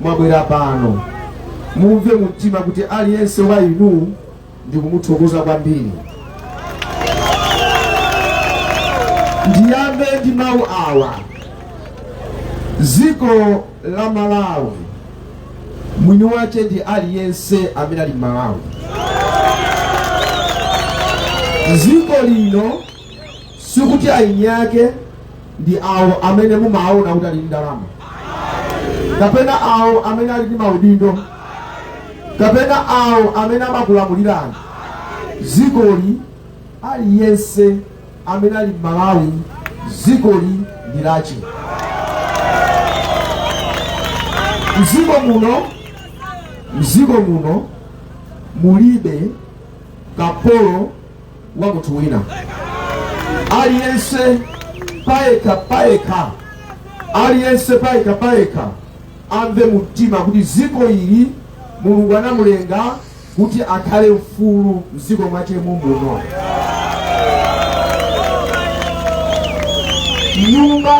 mwabwera pano mumve mumtima kuti aliyense wa inu ndikumuthokoza kwambiri ndiyambe ndi mawu awa dziko la malawi mwini wache ndi aliyense amene ali m'malawi dziko lino sikuti aini ake ndi awo amene mumaona kuti ali ndi ndalama kapena awo amene ali ndi maudindo kapena awo amene amakulamulirani dzikoli aliyense amene ali mmalawi dzikoli ndi lache mziko muno mziko muno mulibe kapolo wa munthu wina aliyense payekha payekha aliyense payekha payekha amve mumtima kuti dziko ili mulungu anamulenga kuti akhale mfulu mdziko mwache mumuno nyumba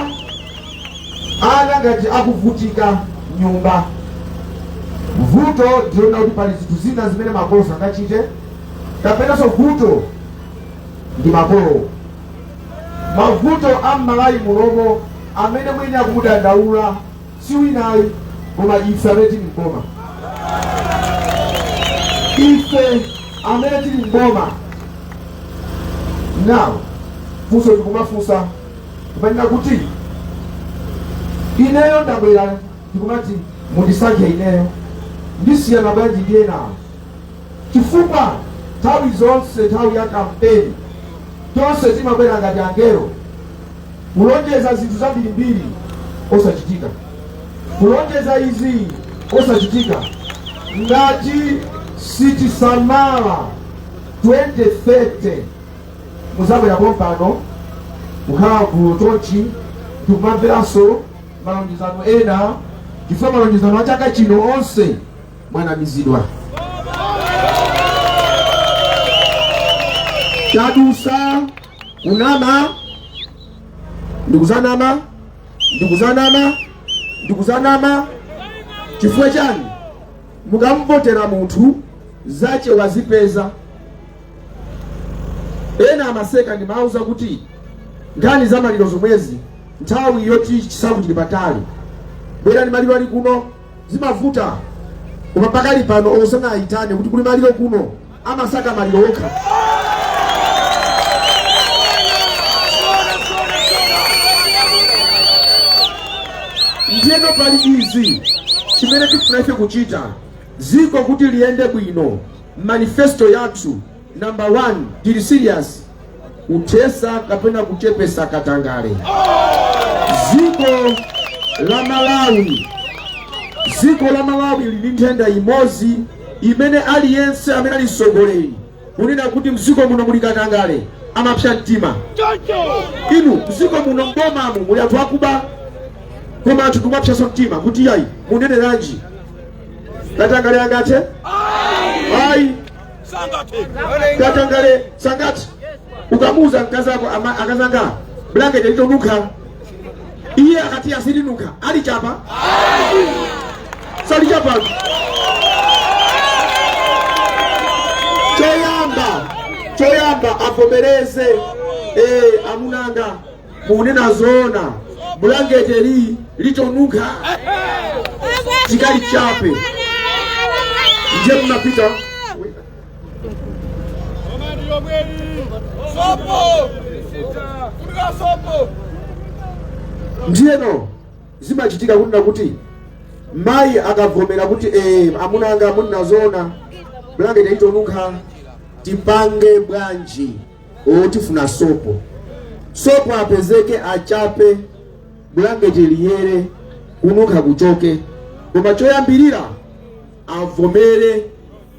ana ngati akuvutika mnyumba vuto ndi lonena kuti pali zinthu zina zimene makolo sangachite kapenanso vuto ndi makolowo mavuto a mmalawi muno amene mwini akumudandaula si wina ayi koma ife amene tili mboma ife amene tili mboma now funso ndikumafunsa kumanena kuti ineyo ndabwera ndikumati mundisankhe ineyo ndisiyana bwanji ndi enawo chifukwa nthawi zonse nthawi ya kampeni tonse timabwera ngati angelo kulonjeza zinthu zambirimbiri osachitika kulonjeza izi osachitika ngati sitisamala 2030 muzabwera pompano kukhala gulu chonchi ndikumamveranso malonjezano ena chifukwa malonjezano a chaka chino onse mwanamizidwa chadusa kunama ndikuzanama ndikuzanama ndikuzanama chifukwa chani mukamvotera munthu zache wazipeza ena amaseka ndimauza kuti nkhani za maliro zomwezi nthawi yoti chisankho chili patali bwerani maliro ali kuno Zimavuta koma pakali pano osanaayitane kuti kuli maliro kuno amasaka maliro okha. Ndiyeno pali izi chimene tikufuna ife kuchita dziko kuti liyende bwino manifesto yathu Number one, tili serious kuthesa kapena kuchepesa katangale. Ziko la Malawi, ziko la Malawi lili nthenda imodzi imene aliyense amene ali msogoleri kunena kuti mziko muno muli katangale amapsa mtima. Inu mziko muno mbomamu muli anthu akuba koma anthu kumapsaso mtima kuti yayi muneneranji katangale angathe ayi katangale sangathe ukamuuza mkazi wako ama- akazanga blanketi litonunkha iye akati silinunkha alichapa salichapa choyamba choyamba avomereze eh, amuna anga Mukunena zoona, bulangete li litonunkha tikalichape ndiye mnapita ndiyeno zimachitika kunena kuti mayi akavomera kuti eh, amuna anga munena zoona bulangete litonunkha tipange bwanji o tifuna sopo sopo apezeke achape bulangeti liyere kununkha kuchoke koma choyambirira avomere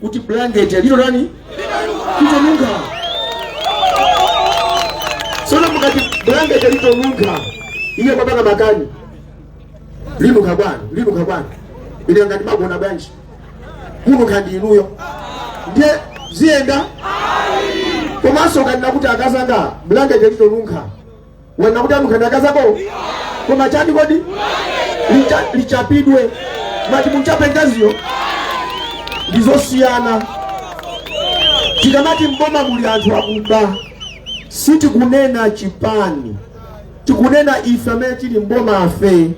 kuti bulangeti lito chani litonunkha tsono mukati bulangeti litonunkha iye kumapanga makani linunkha bwanji linunkha bwanji ine ngati magona bwanji kununkha ndi inuyo ndiye ziyenda komanso ukanena kuti akazanga bulangete litonunkha wanena kuti anunkha ndi akazako koma chani kodi Licha- lichapidwe mati munchape mkaziyo ndizosiyana tikamati mboma muli anthu akuba sitikunena chipani tikunena ife amene tili mbomafe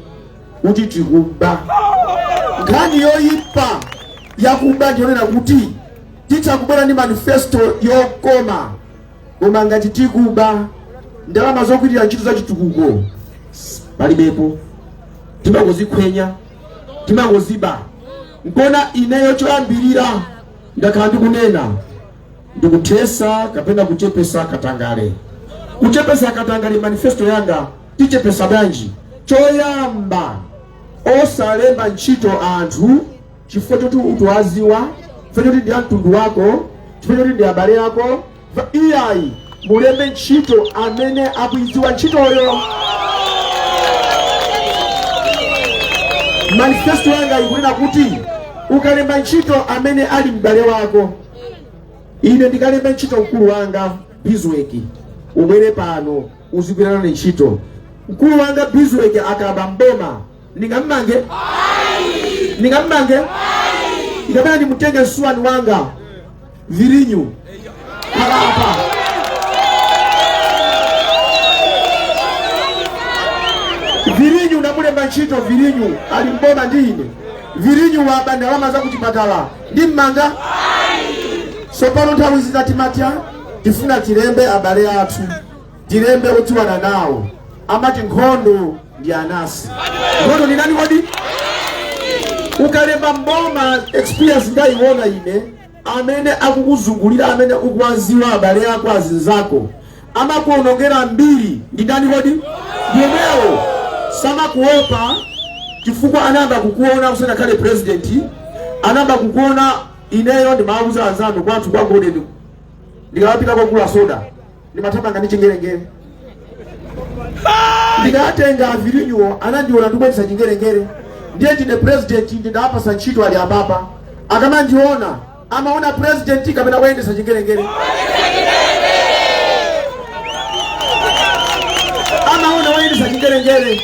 kuti tikuba. Nkhani yoipa ya kuba ndiyonena kuti titha kubwera ndi manifesto yokoma koma ngati tikuba ndalama zogwirira ntchito za chitukuko palibepo, timangozikhwenya timangoziba. Nkona ineyo choyambirira ndakhala ndikunena ndikuthesa kapena kuchepesa katangale, kuchepesa katangale manifesto yanga tichepesa bwanji choyamba osalemba ntchito anthu chifukwa choti ukuwaziwa chifukwa choti ndi amtundu wako chifukwa choti ndi abale yako iyayi mulembe ntchito amene akuiziwa ntchitoyo manifesto yanga ikunena kuti ukalemba ntchito amene ali m'bale wako ine ndikalemba ntchito mkulu wanga bizweki ubwere pano uzigwira nane ntchito mkulu wanga bizweke akaba mboma ndingammange ikapena ndimutenge msuwani wanga virinyu apapa virinyu ndamulemba ntchito virinyu ali mboma ndi ine virinyu waba ndalama za kuchipatala ndi mmanga sopano nthawi zina timati tifuna tilembe abale athu tilembe odziwana nawo amati nkhondo ndi anasi nkhondo ndi ndani kodi ukalemba mboma experience ndayiona ine amene akukuzungulira amene ukuwaziwa abale ako azinzako amakuonongera mbiri ndi ndani kodi ndi amenewo samakuopa chifukwa anayamba kukuona usanakhale president anayamba kukuona ineyo ndimawuza anzanu kwathu kwa golden ndikamapita kokagula soda ndimathamanga ndi chingerengere ndikatenga avirinyuwo anandiona ndikuyendesa chingerengere ndiye ndine president ndawapasa ntchito ali apapa akamandiona amaona president kapena woyendesa chingerengere amaona woyendesa chingerengere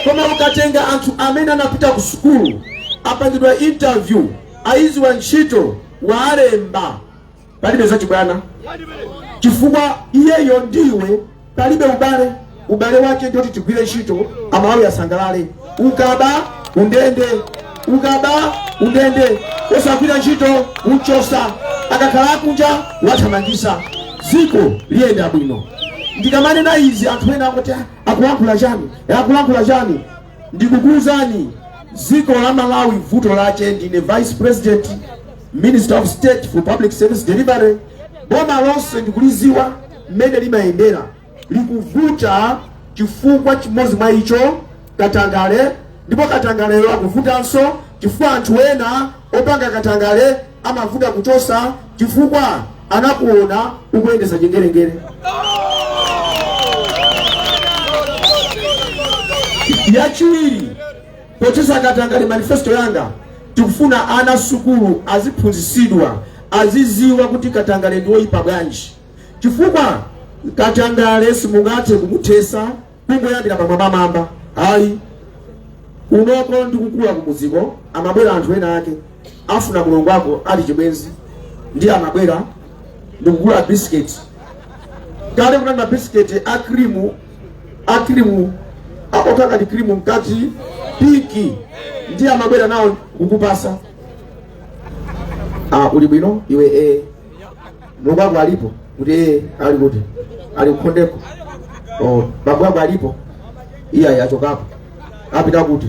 koma ukatenga anthu amene anapita ku sukulu apangidwa interview ayiziwa ntchito waalemba palibe zachibwana chifukwa iyeyo ndiwe palibe ubale ubale wake ndoti tigwire ntchito amalawi asangalale ukaba undende ukaba undende wosagwira ntchito umchosa akakhala kunja wathamangisa dziko liyenda bwino ndikamanena izi anthu ena akuti akulankhula chani akulankhula chani Ndikukuuzani dziko la Malawi vuto lache ndine vice president minister of state for public service delivery. Boma lonse ndikuliziwa mmene limayendera likuvuta chifukwa chimodzi mwa icho katangale, ndipo katangaleyo akuvutanso chifukwa anthu ena Opanga katangale amavuta kuchosa chifukwa anakuona ukuyendesa chingerengere. Yachiwiri, pothesa katangale manifesto yanga tikufuna ana sukulu aziphunzisidwa aziziwa kuti katangale ndiwoyipa bwanji chifukwa katangale simungathe kumuthesa kungoyambira pamwambamwamba ayi unoko ndi kukula kumudziko amabwera anthu ena ake afuna mulongo wako ali chibwenzi ndi amabwera ndikugula bisiketi kale kunali mabisiketi a krimu a krimu okhala ndi krimu mkati piki ndi amabwera nawo kukupasa ah, uli bwino iwe eh. Mlongo wako alipo? Kuti e ali kuti? Ali kukhondeko. Oh, bambo wako alipo? Iyayi achokapo. Apita kuti?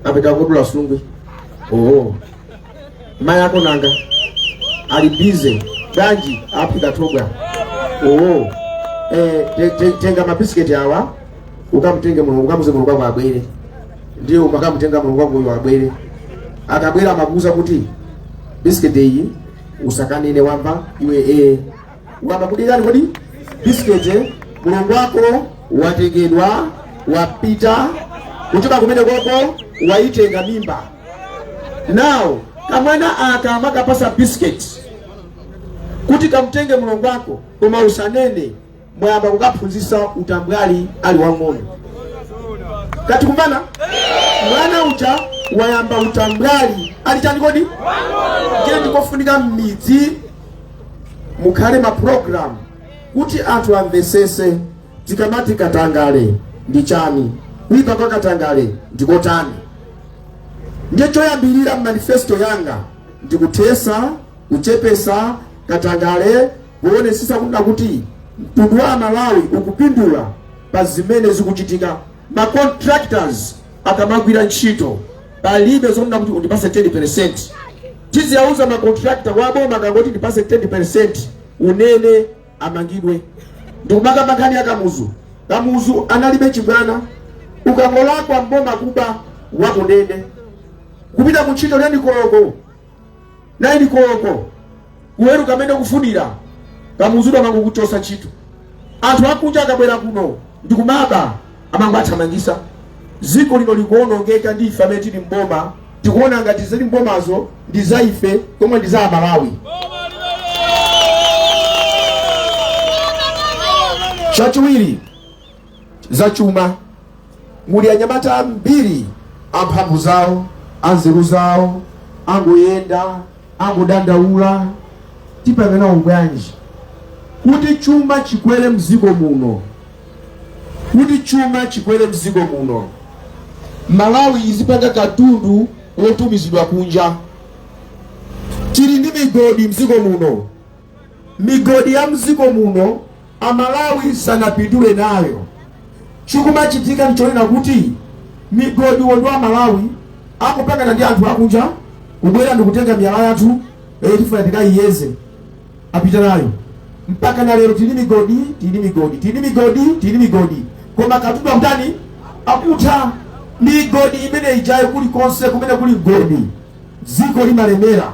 Apita kudula sungwi. Oh. Mai ako nanga ali busy ganji apita tobwa. Oh. Eh, te- te- tenga mabisiketi awa ukamtenge mulongo ukamuuze mulongo wako abwere ndiye umakamutenga mulongo wako uyo abwere akabwera amakuuza kuti bisiketi iyi usakanene wamva iwe ukamba kuti chani kodi bisiketi mulongo wako watengedwa wapita kuchoka kumene koko waitenga mimba nawo kamwana aka amakapasa bisiketi kuti kamtenge mulongo wako koma usanene mwayamba kukaphunzisa utambwali ali wang'ono tikumvana mwana uja wayamba utambwali ali chani kodi ndiye ndikofunika mmidzi mukhale mapulogalamu kuti anthu amvesese tikamati katangale ndi chani kuipa kwa katangale ndikotani ndiye choyambirira manifesto yanga ndikuthesa kuchepesa katangale Kuonetsetsa kunena kuti mtundu wa amalawi ukupindula pa zimene zikuchitika, ma contractors akamagwira ntchito palibe zonena kuti undipase 10%. Tiziauza ma contractor wa boma akangoti ndipase 10% unene amangidwe. Ndikumakamba nkhani ya Kamuzu. Kamuzu analibe chibwana, ukangolakwa mboma kuba wakundende kupita ku ntchito teni koloko 9 koloko kuweruka mmene kufunira Kamuzu amangoku chosa ntchito anthu akunja akabwera kuno ndikumaba amangowathamangisa ziko lino likuonongeka ndi ife amene tili mboma tikuona ngati zili mbomazo ndi za ife pomwe ndi za amalawi chachiwiri zachuma muli anyamata ambiri amphamvu zawo anzeru zawo angoyenda angodandaula tipange nawo bwanji kuti chuma chikwere mdziko muno kuti chuma chikwere mdziko muno malawi izipanga katundu wotumizidwa kunja tili ndi migodi mdziko muno migodi ya mziko muno amalawi sanapindule nayo chikumachitika ndichonena kuti migodi onwo amalawi akupangana ndi anthu akunja kubwera ndikutenga miyala yathu eh, tifuna tikayiyeze apita nayo mpaka na lero tili migodi tili migodi tili migodi tili migodi koma katundu akutani akutha migodi imene ijayo kuli konse kumene kuli mgodi dziko limalemera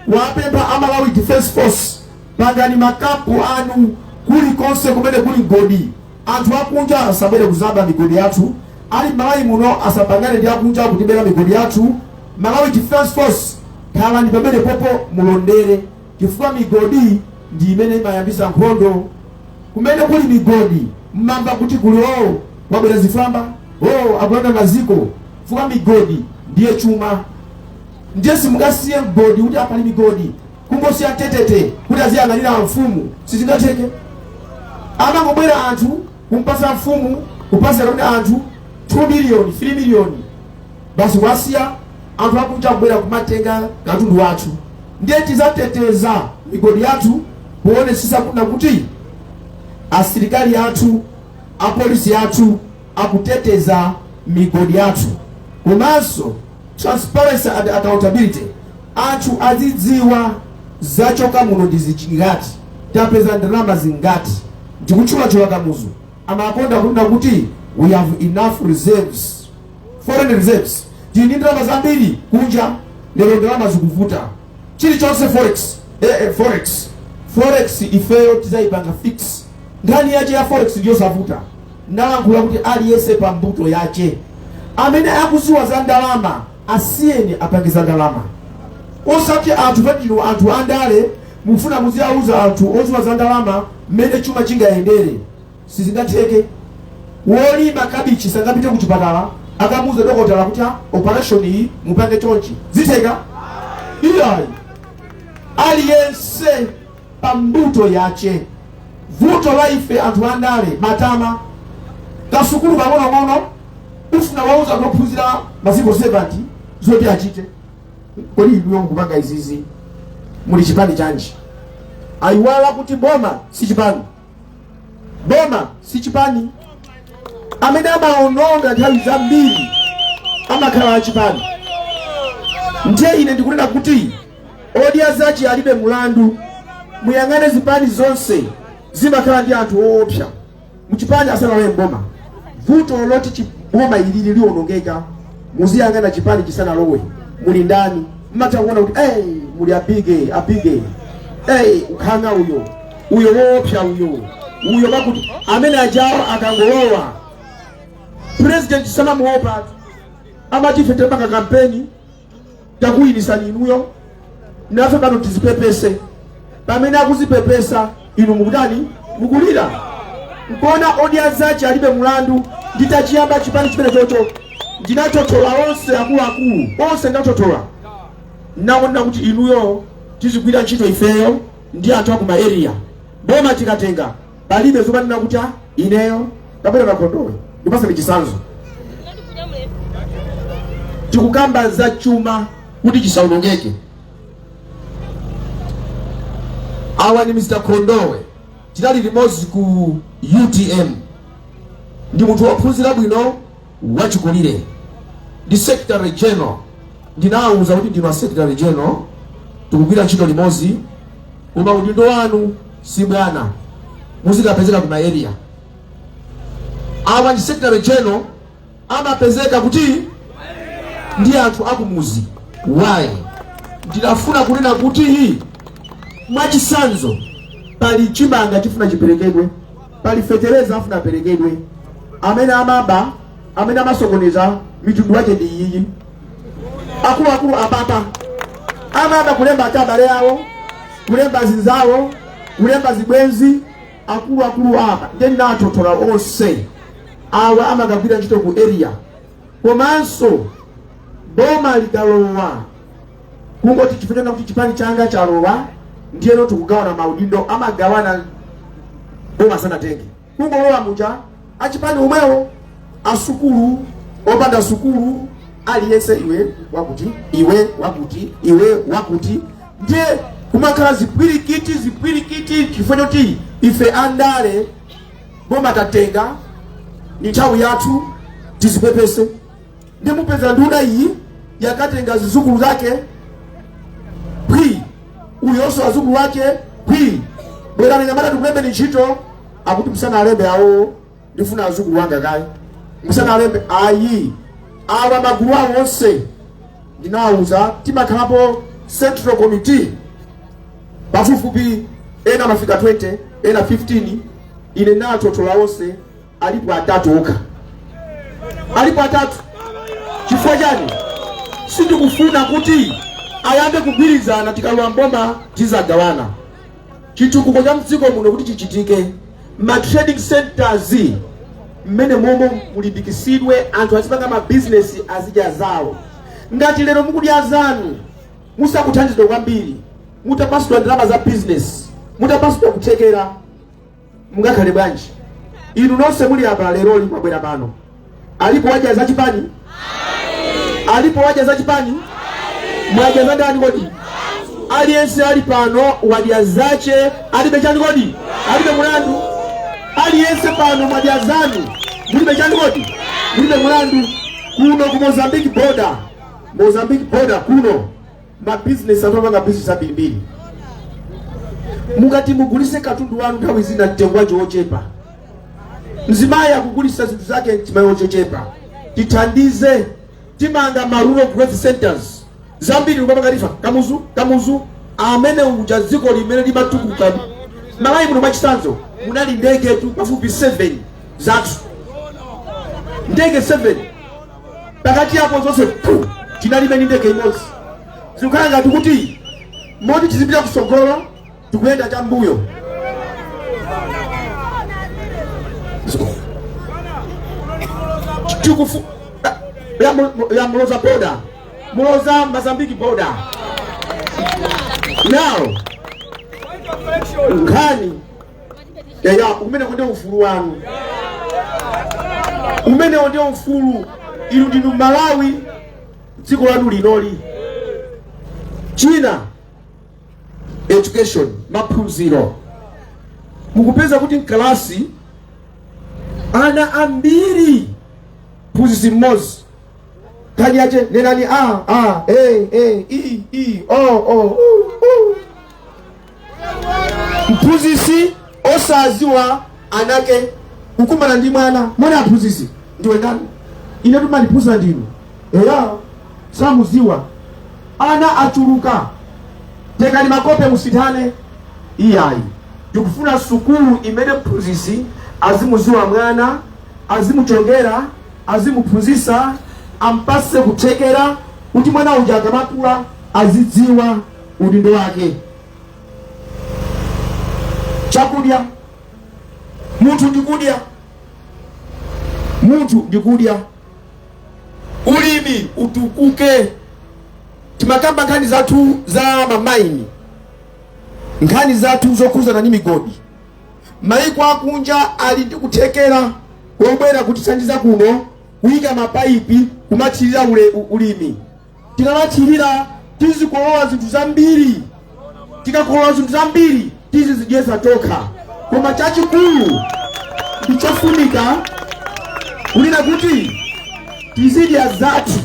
kuwapempha a Malawi Defence Force, pangani makampu anu kulikonse kumene kuli mgodi. Anthu akunja asabwere kuzaba migodi yathu, a m'Malawi muno asapangane ndi akunja kutibera migodi yathu. Malawi Defence Force, khalani pamenepopo mulondere, chifukwa migodi ndi imene imayambisa nkhondo. Kumene kuli migodi mmamva kuti kuli oo kwabwera zifwamba, oo akulanda maziko, chifukwa migodi ndiye chuma. Ndiye simungasiye mgodi kuti apali migodi kungosiya tetete kuti aziyang'anira amfumu sizingatheke amangobwera anthu kumpasa mfumu kupasa kapena anthu 2 miliyoni 3 miliyoni basi wasiya anthu akunja kubwera kumatenga katundu wathu ndiye tizateteza migodi yathu kuonesesa kunena kuti asilikali athu apolisi athu akuteteza migodi yathu komanso transparency and accountability anthu azidziwa zachoka muno ndi zingati tapeza ndalama zingati ndikutchulatchula kamuzu amakonda kunena kuti we have enough reserves foreign reserves tili ndi ndalama zambiri kunja lero ndalama zikuvuta chilichonse forex eh, eh, forex forex ifeyo tizayipanga fix nkhani yache ya forex ndiyosavuta Ndalankhula kuti aliyese pa mbuto yache. Amene akuziwa za ndalama asiyeni apange za ndalama. Osati anthu poti ndinu anthu a ndale mufuna muziauza anthu oziwa za ndalama mmene chuma chingayendere. Sizingatheke. Wolima kabichi sangapite ku chipatala akamuuze dokotala kuti "Ah, operation iyi mupange chonchi. Zitheka? Iyayi. Aliyense pa mbuto yache vuto la ife anthu andale matama kasukulu kang'onong'ono ufuna uwauza ophunzira maziko 70 zoti achite kodi inuyo mukupanga izizi muli chipani chanji ayiwala kuti boma si chipani boma si chipani amene amaononga nthawi zambiri amakhala achipani ndiye ine ndikunena kuti odya zache alibe mulandu muyang'ane zipani zonse zimakhala ndi anthu oopsa mchipani asanalowe mboma vuto lololi chiboma ilili lionongeka muziyang'ana chipani chisanalowe muli ndani mmatha kuona kuti hey, muli abige abige hey, ukhanga uyo uyo woopsa uyo uyo pakuti amene ajawo akangolowa president samamuopa amati ife tepanga kampeni takuwinitsani inuyo nafe pano tizipepese pamene akuzipepesa inu mukutani mukulira nkona odya zache alibe mulandu nditachiyamba chipani chimenechocho ndinatotola onse akuluakulu onse ndinatotola ndawonena kuti inuyo tizigwira ntchito ifeyo ndi anthu akuma area boma tikatenga palibe zomanena kuti "Ah, ineyo kapena a Kondowe ndikupasani chisanzo tikukamba za chuma kuti chisawonongeke awa ni mr kondowe tinali limodzi ku utm ndi munthu wophunzira bwino wachikulire ndi secretary general ndinawauza kuti ndinu a secretary general tikugwira ntchito limodzi koma udindo wanu si bwana muzikapezeka ku maeria awa ndi secretary general amapezeka kuti ndi anthu akumuzi why ndinafuna kunena kuti mwachisanzo pali chimanga chifuna chiperekedwe pali fetereza afuna aperekedwe amene amaba amene amasokoneza mitundu yake ndi iyiyi akuluakulu apapa amaba kulemba abale awo kulemba zinzawo kulemba zibwenzi akuluakulu apa ndiye ndinawatotola onse awa amakagwira ntchito ku area komanso boma likalowa kungoti chifukwa chonena kuti chipani changa chalowa ndiyeno tikugawana maudindo amagawana boma sanatenge kungolowa muja achipani umwewo asukulu opanda sukulu aliyense iwe wakuti iwe wakuti iwe wakuti ndiye kumakhala zipwirikiti zipwirikiti chifukwa choti ife andale boma tatenga ni nthawi yathu tizipepese ndimupeza nduna iyi yakatenga zidzukulu zake pwi uyonso azukulu wake pwi bwerani anyamata tikulembeni ntchito akuti musanalembe awo ndifuna azukulu wanga kaye musanalembe ayi awa magulu awo onse ndinawawuza timakhalapo central committee pafupifupi ena amafika 20 ena 15 ine ndinawatotola onse alipo atatu okha, alipo atatu. Chifukwa chani? Sindikufuna kuti ayambe kugwirizana, tikalowa mboma tizagawana chitukuko cha mdziko muno kuti chichitike. Ma trading centers mmene momo mulimbikitsidwe, anthu azipanga ma business azidya zawo. Ngati lero mukudya zanu musakuthandizidwa kwambiri, mutapatsidwa ndalama za business, mutapatsidwa kuthekera mungakhale bwanji inu nonse muli apa leroli mwabwera pano alipo wadya za chipani alipo wadya za chipani mwadya za ndani kodi aliyense ali pano wadya zache alibe chani kodi alibe mulandu aliyense pano mwadya zanu mulibe chani kodi mulibe mulandu kuno ku mozambique border mozambique border kuno mabizinesi anthu amapanga bizinesi ambirimbiri mukati mugulise katundu wanu nthawi zina mtengo wake wochepa mzimayi akugulisa zinthu zake mzimayi wochechepa tithandize timanga ma rural growth centers zambiri kupanga ngati a Kamuzu kamuzu amene uja dziko limene limatukuka Malawi muno mwachisanzo munali ndegetu pafupi 7 zathu ndege 7 pakati apo zonse pfu tinalibe ndi ndege imodzi zikukhala ngati kuti mmalo moti tizipita kusogolo tikuyenda chambuyo tikufu ya, mu- ya muloza border muloza mozambique border now nkhani ya umene kunde ufulu wanu umene onde ufulu inu ndinu malawi dziko lanu linoli china education maphunziro mukupeza kuti mkalasi ana ambiri mphunzitsi mmodzi nkhani yache nenani a a e e i i o o u, u. mphunzitsi osaziwa anake kukumana ndi mwana mwana aphunzitsi ndiwe ndani ine mumandiphunzitsa ndinu eya samuziwa ana achuluka tengani makope musinthane iyayi ndikufuna sukulu imene mphunzitsi azimuziwa mwana azimuchongera azimuphunzitsa ampase kuthekera kuti mwana uja akamakula azidziwa udindo wake. Chakudya munthu ndi kudya, munthu ndi kudya. Ulimi utukuke, timakamba nkhani zathu za mamaini, nkhani zathu zokhudzana ndi migodi. Maiko akunja ali ndi kuthekera wobwera kutithandiza kuno kuyika mapaipi kumathirira ule- u- ulimi. tikamathirira tizikolola zinthu zambiri tikakolola zinthu zambiri tizizidyetsa tokha koma chachikulu ndi chofunika kunena kuti tizidya zathu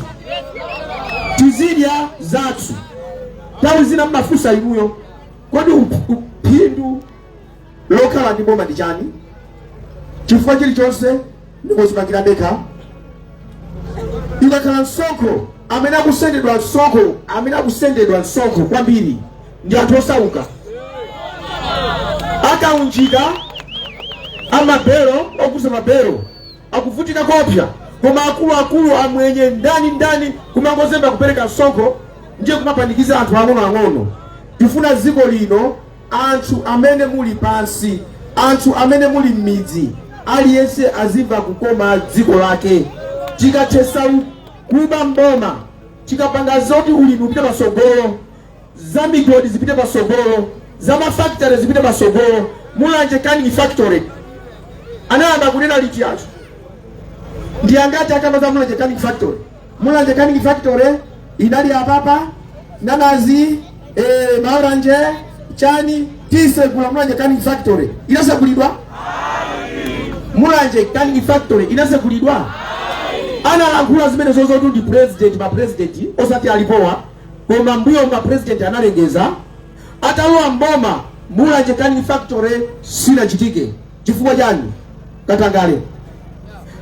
tizidya zathu nthawi zina mumafunsa inuyo kodi phindu lokhala ndi boma ndi chani chifukwa chilichonse ndikuzipangira ndekha ikakhala msonkho amene akusendedwa amene akusendedwa msonkho kwambiri ndi anthu osauka akaunjika amabelo okuza mabelo akuvutika kopya koma akuluakulu amwenye ndani ndani kumangozemba kupereka msonkho ndiye kumapanikiza anthu ang'onoang'ono tifuna dziko lino Anthu amene muli pansi, anthu amene muli mmidzi aliyense azimva kukoma dziko lake. Tikathesa kuba mboma, tikapanga zoti ulimi upite pasogolo, za migodi zipite pasogolo, za ma factory zipite pasogolo. Mulanje canning factory anayamba kunena liti anthu? Ndi angati akamba za Mulanje canning factory? mulanje canning factory inali apapa nanazi eh, maoranje chani tisegula mulanje canning factory inasegulidwa mulanje canning factory inasegulidwa analankhula zimene zozotu ndi president ma president osati alipowa koma mbuyo ma president analengeza Atalowa m'boma, Mulanje Canning Factory sinachitike. Chifukwa chani? Katangale.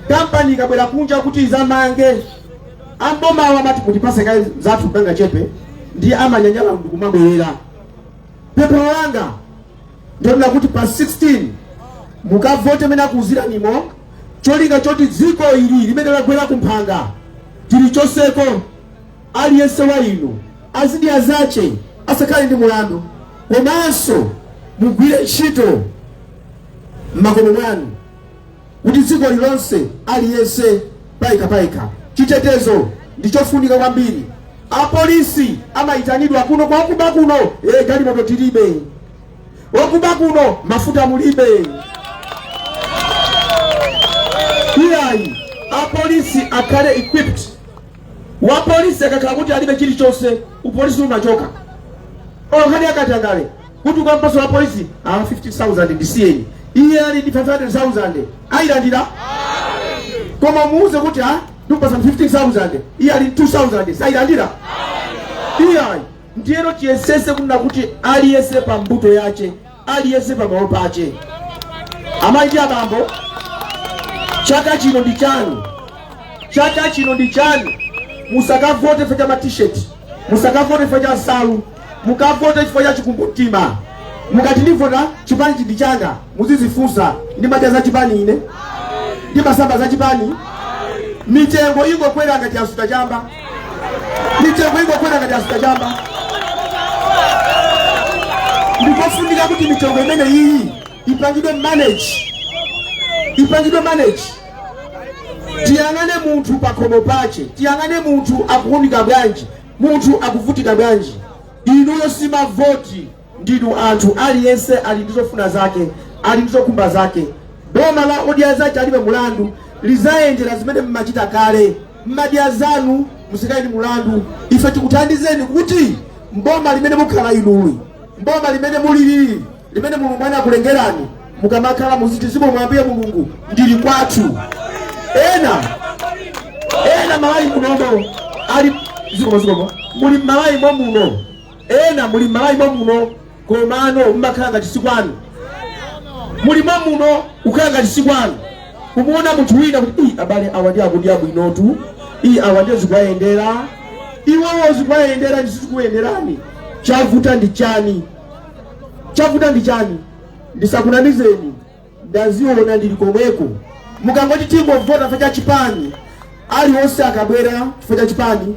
Kampani ikabwera kunja kuti izamange, ambomawo amati mutipase kaye zathu kanga chepe, ndiye amanyanyala munthu kumabwerera. Pempho langa ndonena kuti pa 16 mukavote mene nakuuziranimo cholinga choti dziko ili limene lagwera kumphanga tilichoseko Aliyense wa inu azidya zache, asakhale ndi mulandu, komanso mugwire nchito m'makomo mwanu, kuti dziko lilonse, aliyense payekha payekha. Chitetezo ndi chofunika kwambiri. Apolisi amaitanidwa kuno kwa okuba kuno, e, galimoto tilibe, okuba kuno, mafuta mulibe. Iyayi, apolisi akhale equipped. Wapolisi akakhala kuti alibe chilichonse, upolisi umachoka. Nkhani ya katangale kuti ukampasa wapolisi ah, 50,000 ndisiyeni, iye ali ndi 500,000 ayilandira, koma muuze kuti ah, ndikupasa 15,000 iye ali ndi 2,000 sayilandira iyayi. Ndiyeno tiyesese kunena kuti aliyese pa mbuto yache aliyense pamalo pache. Amayi ndi abambo, chaka chino ndi chanu, chaka chino ndi chanu. Musakavote chifukwa cha ma t-shirt, musakavote chifukwa cha nsalu, mukavote chifukwa cha chikumbumtima. Mukati ndivota chipanichi ndi changa, muzizifunsa ndimadya za chipani ine ndimasamba za chipani mitengo ingokwera ngati yasuta chamba mitengo ingokwera ngati yasuta chamba ndikofunika kuti mitengo imene iyi ipangidwe manage ipangidwe manage tiyang'ane munthu pakhomo pache tiyang'ane munthu akuunika bwanji munthu akuvutika bwanji inuyo si mavoti Ndinu anthu aliyense ali ndi zofuna zake ali ndi zokhumba zake boma la odya zache alibe mulandu lizayendela zimene mmachita kale mmadya zanu musakhale ndi mulandu ife tikuthandizeni kuti mboma limene mukhala inuli mboma limene mulili limene mulungu anakulengerani mukamakhala muziti zikomo ambuye mulungu ndili kwathu ena ena mmalawi munomo ali zikomo zikomo muli mmalawi momuno Ena muli mmalawi momuno komano mmakhala ngati sikwanu. Muli momuno kukhala ngati sikwanu. Kumuona munthu wina kuti ii abale awa ndi akudya bwinotu. Ii awa ndiye zikuwayendera. Iwowo zikuwayendera ndi sizikuyenderani. Chavuta ndi chani? Chavuta ndi chani? Ndisakunamizeni. ndaziona ndili komweko mukangoti tingovota chifukwa cha chipani aliwonse akabwera chifukwa cha chipani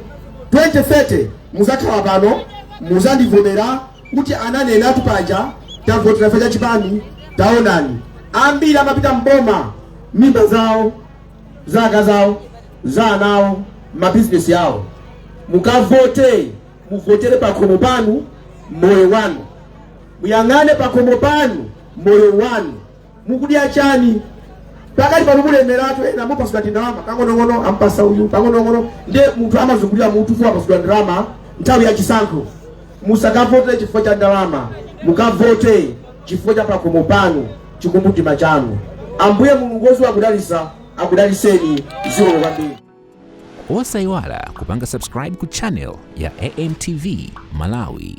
2030 muzakhala pano muzandivomera kuti ananenatu paja tavotera chifukwa cha chipani taonani ambiri amapita mboma mimba zawo za akazi awo za ana awo mabizinesi awo mukavote muvotere pakhomo panu moyo wanu Muyang'ane pakhomo panu, moyo wanu, mukudya chani? pakati pano mulemeratu ena mupasidwa tindalama kang'onong'ono ampasa uyu kang'onong'ono ndiye munthu amazungulira mutu fukwa wapasidwa ndalama nthawi ya chisankho musakavote chifukwa cha ndalama mukavote chifukwa cha pakhomo panu chikumbumtima chanu ambuye mulungu woziwa kudalisa akudaliseni zikomo kwambiri osayiwala kupanga subscribe ku channel ya amtv malawi